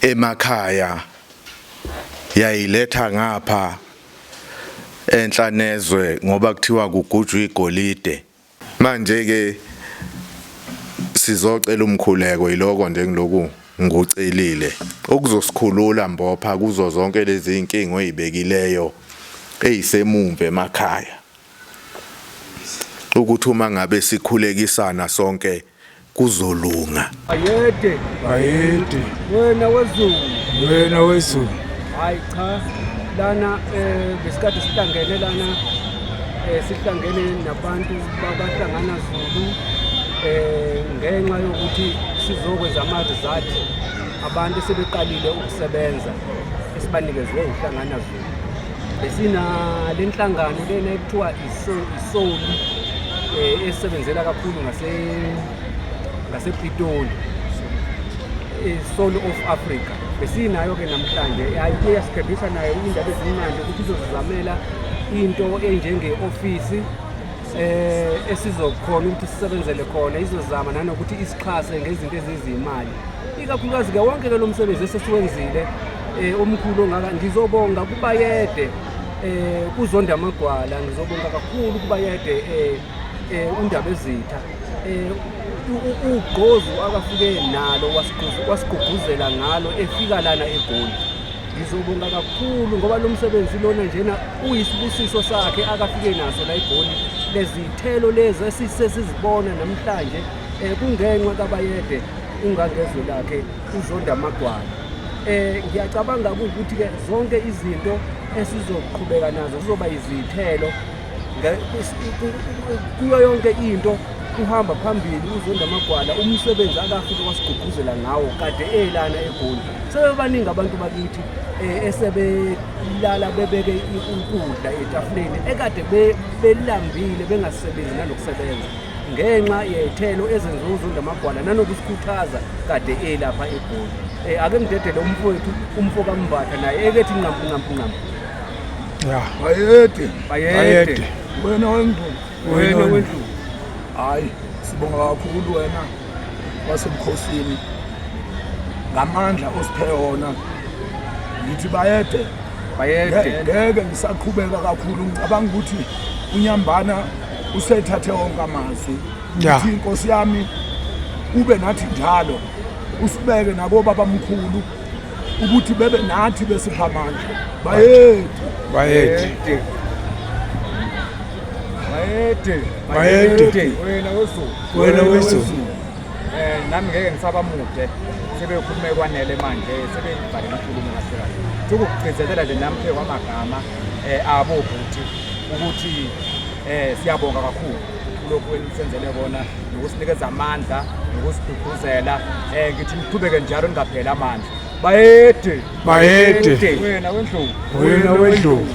emakhaya yayiletha ngapha enhlanezwe ngoba kuthiwa kugujwa igolide manje ke sizocela umkhuleko yiloko nje ngiloku ngucelile okuzosikhulula mbopha kuzo zonke lezi inkingo ezibekileyo ezisemumva emakhaya ukuthi uma ngabe sikhulekisana sonke kuzolunga. Bayede, bayede, wena wezulu, wena wezulu. Hayi cha, lana eh besikade sihlangene lana eh sihlangene nabantu babahlangana Zulu eh ngenxa yokuthi sizokwenza ama-result abantu sebeqalile ukusebenza esibanikezwe uhlangana Zulu besina lenhlangano lena ekuthiwa isoli eh, esebenzela kakhulu ngasepitoli i-soul of africa besinayo-ke namhlanje ayike yasikhebisa nayo iy'ndaba ezimnandi ukuthi izozizamela into enjenge-ofisi eh esizokhona ukuthi sisebenzele khona izozama nanokuthi isixhase ngezinto ezizimali ikakhulukazi ke wonke ke lo msebenzi esesiwenzile eh omkhulu ongaka ngizobonga kubayede eh kuzonda amagwala ngizobonga kakhulu kuba yede eh, eh undaba ezitha eh ugqozu akafike nalo wasigqugquzela ngalo efika lana egoli ngizobonga kakhulu ngoba lo msebenzi lona njena uyisibusiso sakhe akafike naso la egoli lezithelo lezi esisesizibona namhlanje eh kungenxa kabayede ungangezwe lakhe uzonda amagwala Eh ngiyacabanga ukuthi ke zonke izinto esizoqhubeka nazo kuzoba izithelo kuyo yonke into uhamba phambili uzonda amagwala umsebenzi akafike wasigqugquzela ngawo kade elana egoli sebebaningi abantu bakithi eh, esebelala bebeke ukudla etafuleni ekade belambile bengasebenzi nanokusebenza ngenxa yey'thelo ezenziwa uzunda amagwala nanokusikhuthaza kade elapha egoli um eh, ake ngidedele umfowethu umfo kambatha naye ekethi nqampu nqampu nqampu ya bayede bayede wena wendlu wena wendlu hhayi sibonga kakhulu wena wasebukhosini ngamandla osiphe wona ngithi bayede bayede ngeke ngisaqhubeka kakhulu ngicabanga ukuthi unyambana usethathe wonke amazwi Yeah. uthi inkosi yami ube nathi njalo usibeke nakobabamkhulu ukuthi bebe nathi besipha amandla bayethu bayede Bayede. Bayede. Wena wezulu. Wena wezulu. Eh nami ngeke ngisaba mude. Sebekhulume kwanele manje sebeyibhale inkulumo kahle kahle. Ukugcizelela nje nami phe kwamagama eh abo bhuti. ukuthi eh siyabonga kakhulu kulokhu enisenzele kona nokusinikeza amandla nokusiduduzela eh ngithi niqhubeke njalo ningapheli amandla bayede bayede wena wendlovu wena wendlovu